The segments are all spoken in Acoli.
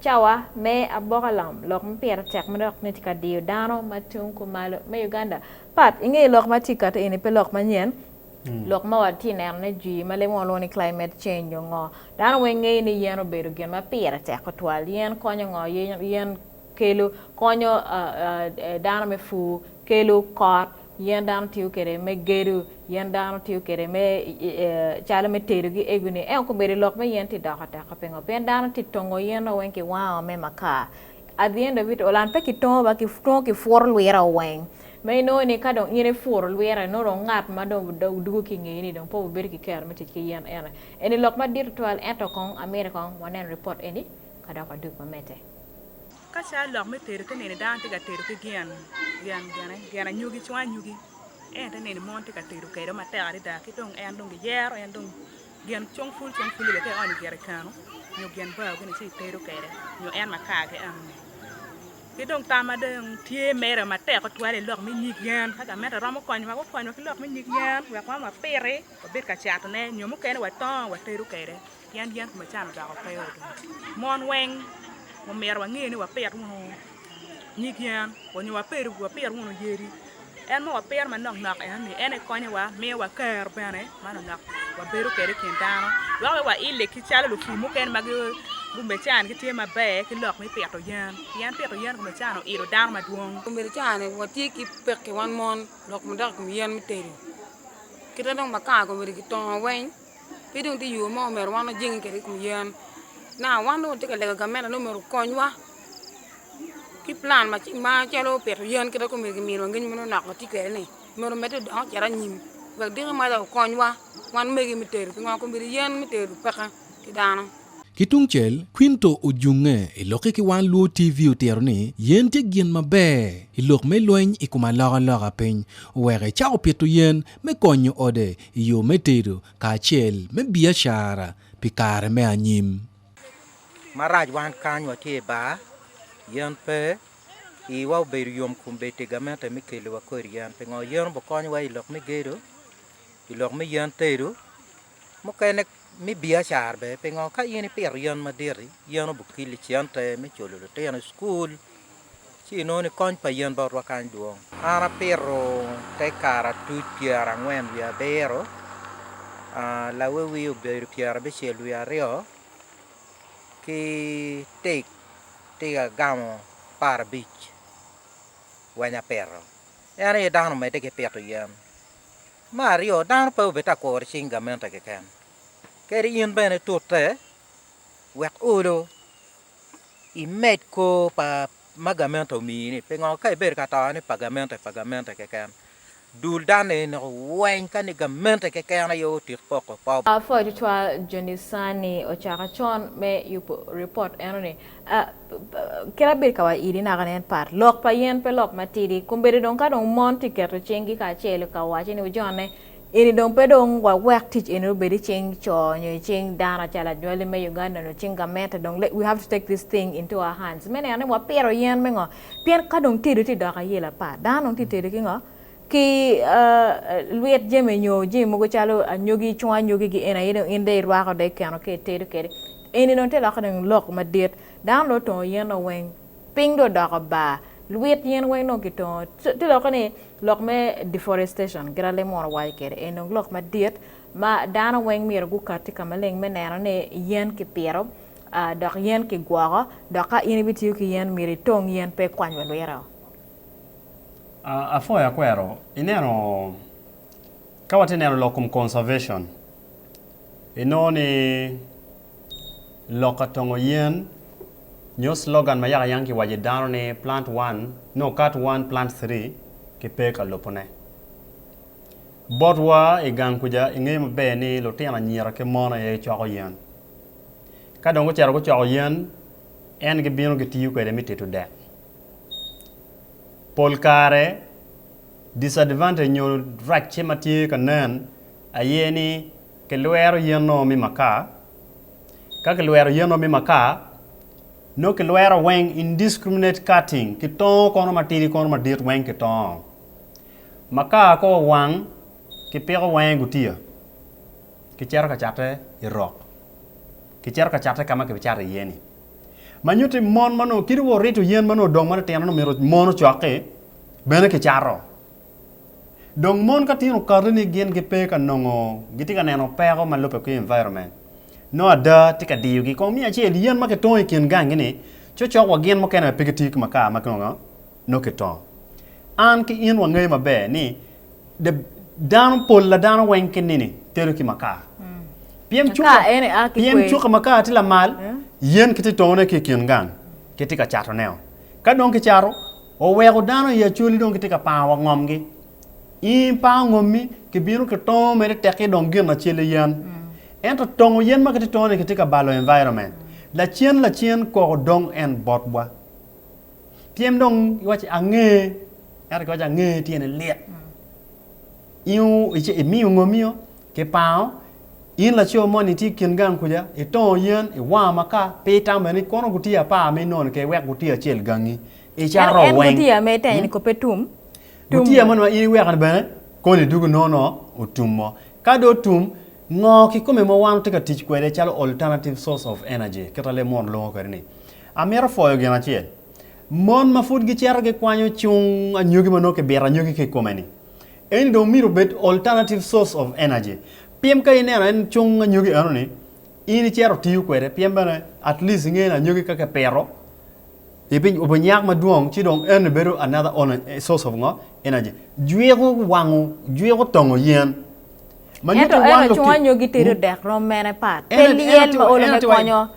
Cawa me aboka lam lok ma pire tek ma dok tye ka diyo dano ma tung kumalo me Uganda pat i nge lok ma tye ka kati eni pe lok manyen. Hmm. Lok ma watye ka neno ne jwi ma lemo lwongo ni climate change nyo ngo. Dano weng ngeyo ni yen obedo gin ma pire tek tutwal. Yen konyo ngo? Yen kelo konyo dano me pur, kelo kot, yen dano tiyo kwede me gedo, yen dano tiyo kwede me calo me tedo ki eguni ento kobedo i lok me yen tye doko teka pingo pien dano tye tongo yen o weng ki wango me makar at the end of it all and pe ki tongo ba twongo ki puro lwira o weng ma inongo ni ka dong in ipuro lwira inongo dong ngat ma dong dwogo ki ingeye ni dong pe wubedo ki kero me tic ki yen ene eni lok madit tutwal ento kong amyero kong waneno ripot eni ka dok wadwogi wamedde. Ka caa lok me tedo te neno dano tye ka tedo ki gin gin anyogi cwang anyogi ento te neno mon tye ka tedo kwede matek adada ki dong en dong giyero en dong gin cung pul cung pul bene ka ionyo i jerican nyo gin bao gin ci itedo kwede nyo en makar-ri enoni ki dong tam ma dong tye mere matek tutwal aye lok me nyig yen ka gamente romo konyowa gukonywa ki lok me nyig yen wek wan wapiti wabed ka catone nyo mukene watongo watedo kwede. Pien yen kome can odoko pe odong. Mon weng omyero wange ni wapit wunu nyig yen onyo wapit wunu yadi. En ma wapito manok nok eno ni en aye konyowa, miyowa kero bene ma nok nok wabedo kwede i kin dano. Dok aye waile ki calo lupur mukene ma gume can gitye maber ki lok me pito yen. Pien pito yen kome can oilo dano madwong. Kome can watye ki pekki wan mon dok madok i kom yen me tedo. Kite dong makar kome ki tongo weng. pe dong tye yo mo ma omyero wan wajenge kwede i kom yen na. Wan dong watye ka lego gamente ni omyero okonywa ki pulan macalo pito yen kit ma kome kiminiwa ngec ma nonok watye kwede-ni, omyero omedde odong ocit anyim wek diki moja okonywa wan megi me tedo pingo kong obedo yen me tedo peke pi dano. Ki tungcel, Quinto ojunge i lokke ki wan Luo TV otito ni yen tye gin maber i lok me lweny i kom aloka loka piny oweko icako pito yen me konyo ode i yo me tedo kacel me biacara pi kare me anyim. Marac wan kany watye i bar, yen pe, iwa obedo yom kun bed pi gamente me keliwa kodi yen. Pingo yen obikonyowa i lok me gedo, i lok me yen tedo? Mukene me biacara bene, pingo ka in ipito yen madit-ti, yen obikilli cente me culo litino i cukul, ci inongo ni kony pa yen botwa kany dwong. An apito te karatuc pyerangwen wiye abiro, lawiwi obedo pyerabicel wiye aryo, ki tik tik agamo aparabic weny apito. En aye dano omedde ki pito yen, Me aryo, dano pe obed ta kuro cing gamente keken, kadi in bene tute wek olo imed kor pa ma gamente omiyi-ni. Pingo? Ka ibedo ka to ni pa gamente, pa gamente keken, dul dano eni nongo weny ka ni gamente keken aye otit poko. Pop. Pwony tutwal, Joni Sani ocako con me yubo ripot enoni Kit abedo ka waco iri naka nen pat, lok pa yen pe lok matidi. Kombeddi dong ka dong mon tye ka keto cinggi kacel ka waco ni wujonne, eni dong pe dong wawek tic eni obed i cing co nyo i cing dano acel anywali me Uganda nyo cing gamente dong let we have to take this thing into our hands me neno ni wapito yen me ngo? Pien ka dong tedo tye dok ayelo apa, dano dong tye ka tedo ki ngo? Ki lwit jami nyo jami mogo calo anyogi, cungo anyogi gi en aye dong in dong irwako dong ikeno ka itedo kwede. Eni dong te lokke dong lok madit. Dano dong otongo yen dong weng. Piny dong odoko bar. Lwit yen weng dong kitongo. Te lokke ni lok me deforestation kit ma lemo mono waco kwede. Eni dong lok madit ma dano weng myero gukati ka maleng me neno ni yen kipito dok yen kigwoko dok ka in ibitiyo ki yen myero itong yen pe ikwany wa lwite-o. Apwoyo akwero ineno ka watye neno lok kom conservation inongo ni lok ka tongo yen nyo slogan ma yaka yang ki waco i dano ni plant one no cut one plant three ki pe ka lubo ne bot wa i gang kuca i ngeyo maber ni lutino anyira ki mon aye coko yen ka dong gucito gucoko yen en gi bino ki tiyo kwede me tedo dek. pol kare disadvantage nyo racce ma tye ka nen aye ni kilwero yen ongo me makar ka kilwero yen ongo me makar nongo kilwero weng indiscriminate cutting kitongo kono matidi kono madit weng kitongo makar ka owang kipiko wenge gutiya kicito ka cate i rok kicito ka cate ka ma kibicato iye-ni. Ma nyuto i mon ma nongo kit wa orito yen ma nongo odong matitino nongo myero mon ocok-ki, bene kicato. Dong mon ka tino okato ni gin gipe ka nongo gitye ka neno peko ma lubbe ki environment, nongo ada tye ka diyogi. Kong miya acel yen ma kitongo i kin gangi-ni, cokcok wa gin mukene aye pe gitiyo ki makar ma nongo kitongo. An ki in wangeyo maber ni The dano pol la dano weng ki nini tedo ki makar piem cuka ene a ki piem cuka makar ti lamal yen ki ti tone ki kin gang ki ti ka cato neo ka dong ki cato oweko dano i acoli dong ki ti ka pango wa ngom gi i pango ngom mi ki bino ki tongo mere tek ki dong gin acel yen ento tongo yen ma ki ti tone ki ti ka balo environment lacen lacen koko dong en bot bwa Pien dong iwaci ange, ento kiwaci ange tyene lit. Imiyo ngomiyo kipango in laco moni tye kin gang kuca itongo yen iwango maka pe itamo bene ni kono gutye apar ma inongo keken wek gutye acel gangi icato weng. En gutye ma itenge ni kope tum. Gutye moni ma in iweko ni bene koni dugu nono otum mo. Ka do otum ngo kikome ma wan watye ka tic kwede calo alternative source of energy kita leb munu lwongo kwede ni. Amito pwoyo gin acel. Mon ma pud gicito gikwanyo cung anyogi ma nongo kibito anyogi ki i kome-ni, eni dong myero obed alternative source of energy. Pien ka ineno en cung anyogi eno-ni, in icito itiyo kwede pien bene at least ingeyo ni anyogi ka kipito obinyak madwong ci dong eno-ni bedo another on source of ngo? energy. Jwiko wango, jwiko tongo yen. Ma nyuto Ento eno wang cung lutino. anyogi tedo dek rom mene pat. Pe Eno, eno lyel ma tye wa, olo eno me tye wa. konyo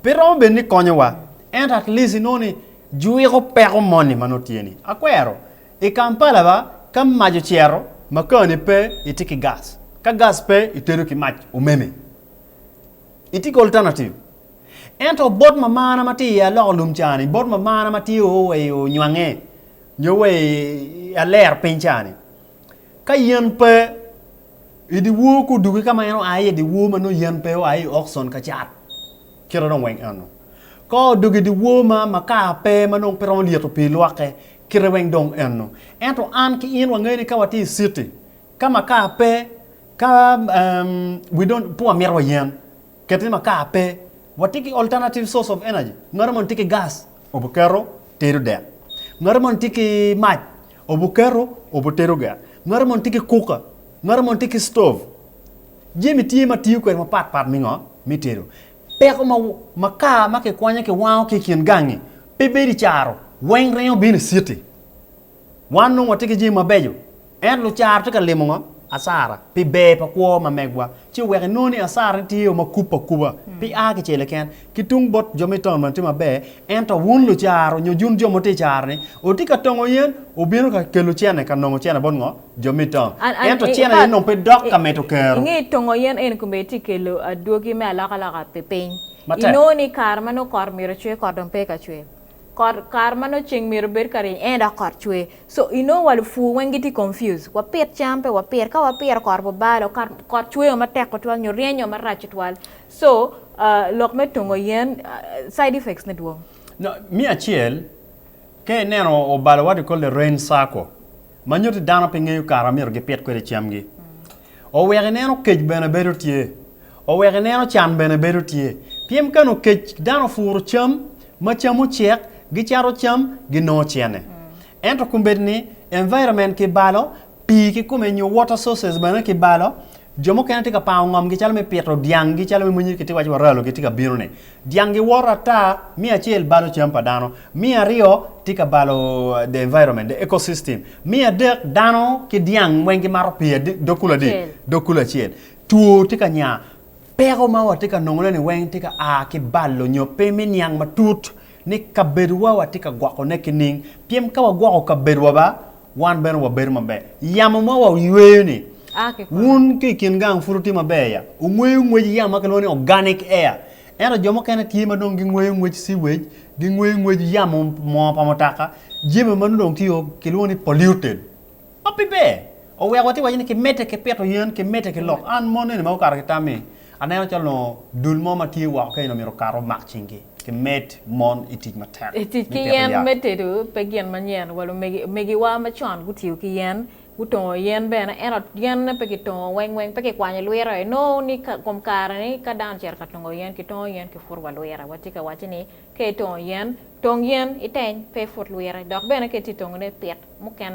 Pe romo bed ni konyowa, ento at least inongo ni jwiko peko moni ma nongo tye ni. Akwero, i Kampala ba, ka mac ocero, makani pe, itye ki gas. Ka gas pe, itedo ki mac omeme. Itye ki alternative. Ento bot mamana ma tye i aloko lum ca ni, bot mamana ma tye o wa i Onywangge, nyo wa i Aler piny ca ni, Ka yen pe i dyewor ka oduki ka ma en oa iye dyewor ma nongo yen pe oa i okcon ka cat kite dong weng eno. Ka odok i dyewor ma makar pe ma nongo pe romo lyeto pii lwokke kite weng dong eno. Ento an ki in wangeyo ni ka watye i citi ka makar pe ka we don't pe wamito wa yen kit ni makar pe watye ki alternative source of energy ma romo niti ki gas obuketo tedo dek. Ngati moni tye ki mac, obuketo obutedo dek. Ngati moni tye ki kuka, ngati moni tye ki stov. Jami tye ma tiyo kwede mapat pat me ngo? Me tedo. Peko ma makar ma kikwanyo kiwango ki i kin gangi pe bedo i caro weng ringo bino i citi. Wan nongo watye ki jami mabeco, ento lucara tye ka limo ngo? Asara. Pi ber pa kwo ma megwa, ci oweko inongo ni asara ne tye o ma kupe akuba, pe a ki cele ken. Ki tung bot jo me taun bene tye maber, ento wun lucara nyo jun jo ma wutye i cara ni, wutye ka tongo yen, wubino ka kelo cene ka nongo cene bot ngo? Jo me taun. An, an, Ento cene aye nongo pe dok ka mito kero. Inge tongo yen eni kome tye kelo adwogi me alokaloka pi piny. Matek. Inongo ni kare ma nongo kot myero ocwer, kot dong pe ka cwer. Kot kare ma nongo ceng myero obed ka ryeny ene dok kot cwer so inongo wa lupur weng gitye confused wapit cam pe wapit ka wapito kot wa balo ka kot cwer matek tutwal nyo ryeny o marac tutwal so lok me tungo yen side effects ne dwong. Me acel ka ineno obalo what you call the rain circle manyuti dano pe ngeyo kare amyero gipit kwede cam gi Oweko ineno kec bene bedo tye. Oweko ineno can bene bedo tye. Pien ka nongo kec dano opuro cam, ma cam ocek, gicato cam, ginongo cene. Ento kombeddi ni environment kibalo, pii kikome nyo water sources bene kibalo, jo mukene tye ka pango ngomgi calo me pito dyanggi calo me monyere kitye ka waco wa ralo gitye ka bino ni. Dyang giwoto ata, me acel balo cam pa dano, me aryo tye ka balo the environment, the ecosystem, me adek dano ki dyang weng gimato pii dog kulu adi? Acel. Dog kulu acel. Two tye ka nya, peko ma watye ka nongoneni weng tye ka a ki balo nyo pe me niang matut ni kabedowa watye ka gwokone ki ning? Pien ka wagwoko kabedowa ba Wan bene wabedo maber. Yamo ma wa yweyo-ni, wun ki i kin gang pud wutye maber ya? Wungweyo ngwec yamo ma kilwongo ni organic air. Ento jo mukene tye ma dong gingweyo ngwec sewage, gingweyo ngwec yamo moo pa mutoka, jami ma nongo dong tye kilwongo ni polluted, ma pe ber. Oweko watye ka waco ni kimedde ki pito yen, kimedde ki lok. An mon eni ma gukato ki tammi, Aneno calo onongo dul mo ma tye woko kenyo-ni omyero okat omak cinggi ki med mon i tic matek I tic me ki pito yen yat. me tedo pe gin manyen wa lumegi omegiwa macon gutiyo ki yen gutongo yen bene ento yenne pe kitongo weng weng pe kikwanyo lwira aye nongo ni ka kom kare ni ka dano ocito ka tongo yen kitongo yen ki put wa lwira watye ka wacci ni ka itongo yen tong yen iteny pe iput lwira dok bene ka itye tongo ne pit mukene